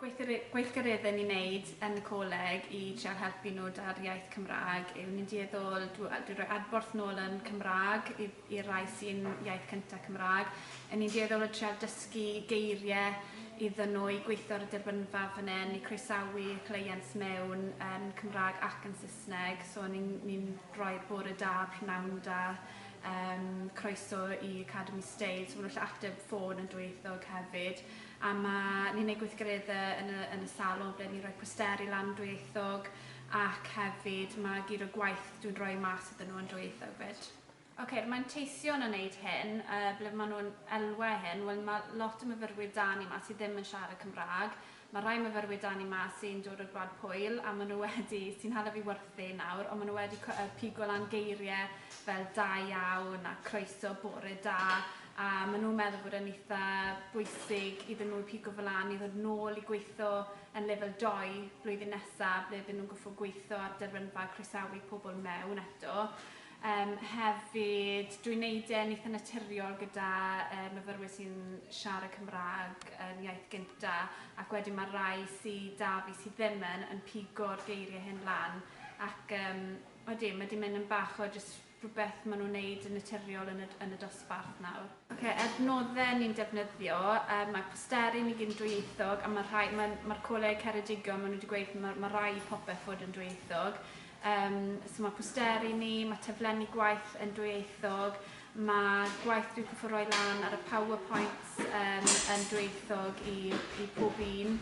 gweithgareddau ni'n neud yn y coleg i trial helpu nhw 'da'r iaith Cymraeg yw ni'n dueddol dw- dwi roi adborth nôl yn Cymraeg i i'r rai sy'n iaith cynta Cymraeg 'yn ni'n dueddol o trial dysgu geirie iddyn nhw i gweitho ar y derbynfa fan 'yn i croesawu cleiant mewn yn Cymraeg ac yn Saesneg so ni'n ni'n rhoi'r bore da prynhawn da yym croeso i Academi Steil so ma' nhw'n gallu ateb ffôn yn dwyieithog hefyd. a ma' ni'n neud gweithgaredde yn y yn y salon ble ni'n rhoi posteri lan dwyieithog ac hefyd ma' gyd o gwaith dwi'n rhoi mas iddyn nhw yn dwyieithog 'fyd. Ok, yr manteision yn neud hyn, yy ble ma' nhw'n elwa hyn, wel ma' lot o myfyrwyr 'da ni 'ma sy ddim yn siarad Cymrâg, ma' rhai myfyrwyr 'da ni 'ma sy'n dod o'r gwlad Pwyl a ma' nhw wedi, sy'n hala fi wyrthu nawr, ond ma' nhw wedi cw- yy pigo lan geirie fel 'da iawn' a 'croeso', 'bore da', a maen nhw'n meddwl bod e'n eitha' bwysig iddyn nhw pigo fe lan i ddod nôl i gweitho yn lefel dou blwyddyn nesa' ble bydden nhw'n goffod gweitho ar derbynfa a croesawu pobl mewn eto. Yym hefyd dwi'n neud e'n eitha' naturiol gyda yy myfyrwyr sy'n siarad Cymraeg yn iaith gynta' ac wedyn ma' rai sy 'da fi sy ddim yn yn pigo'r geirie hyn lan ac yym odi ma' 'di mynd yn bach o jyst rhywbeth maen nhw'n neud yn naturiol yn y yn y dosbarth nawr. Ok, adnodde ni'n defnyddio, yym mae posteri ni gyd yn dwyieithog a ma' rhai ma'n ma'r coleg Ceredigion ma' nhw wedi gweud ma' ma' raid popeth fod yn dwyieithog. Yym so ma' posteri ni, ma' taflenni gwaith yn dwyieithog, ma' gwaith dwi'n cyffwrdd roi lan ar y power points yym yn dwyieithog i i pob un.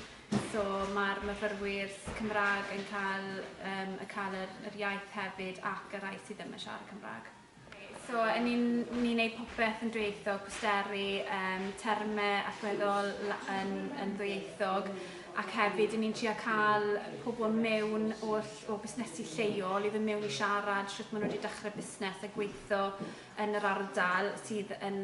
So mae'r myfyrwyr Cymraeg yn cael yym y cael yr yr iaith hefyd ac y rhai sydd ddim yn siarad Cymraeg. So yn ni'n ni'n neud popeth yn dwyieithog, posteri, yym terme allweddol la- yn yn ddwyieithog ac hefyd 'yn ni'n trio ca'l pobol mewn oll o busnesi lleol i fyn' mewn i siarad shwt ma' nw 'di dechre busnes a gweitho yn yr ardal sydd yn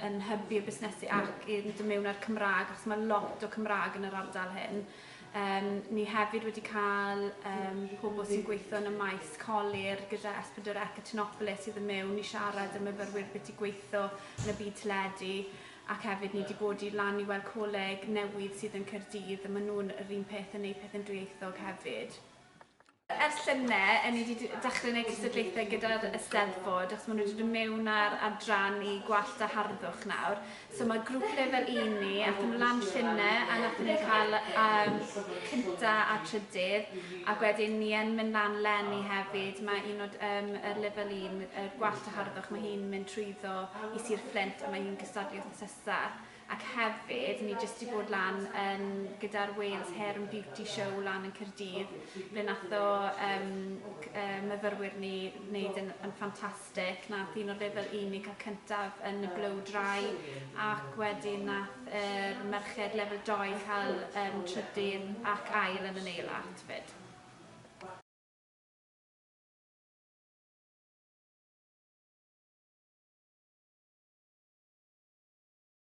yn hybu y busnesu ac i fynd mewn â'r Cymraeg achos mae lot o Cymraeg yn yr ardal hyn. Um, ni hefyd wedi cael um, pobl sy'n gweithio yn y maes colir gyda Esbydr Ecatinopolis sydd yn mewn i siarad y myfyrwyr beth i gweithio yn y byd teledu ac hefyd ni wedi bod i lan i weld coleg newydd sydd yn Cyrdydd a maen nhw'n yr un peth yn neud peth yn dwyieithog hefyd. Ers llynedd, ŷn ni 'di dechrau gwneud cystadlaethau gyda'r Eisteddfod achos maen nhw 'di dod mewn â'r adran i gwallt a harddwch nawr. So mae grŵp lefel un ni, aethon nhw lan llynedd a wnaethon ni cael yym cynta' a trydydd ac wedyn ni yn mynd lan 'leni hefyd, mae un o yym yr lefel un, y gwallt a harddwch, mae hi'n mynd trwyddo i Sir Fflint a mae hi'n cystadlu wythnos nesa'. ac hefyd ni jyst 'di bod lan yn gyda'r Wales Hair and Beauty Show lan yn Caerdydd ble nath o yym c- yy myfyrwyr ni wneud yn yn ffantastic nath un o'r fe fel unig cael cyntaf yn y blow dry ac wedyn nath yr merched lefel dou cael yym trydydd ac ail yn y nail art 'fyd.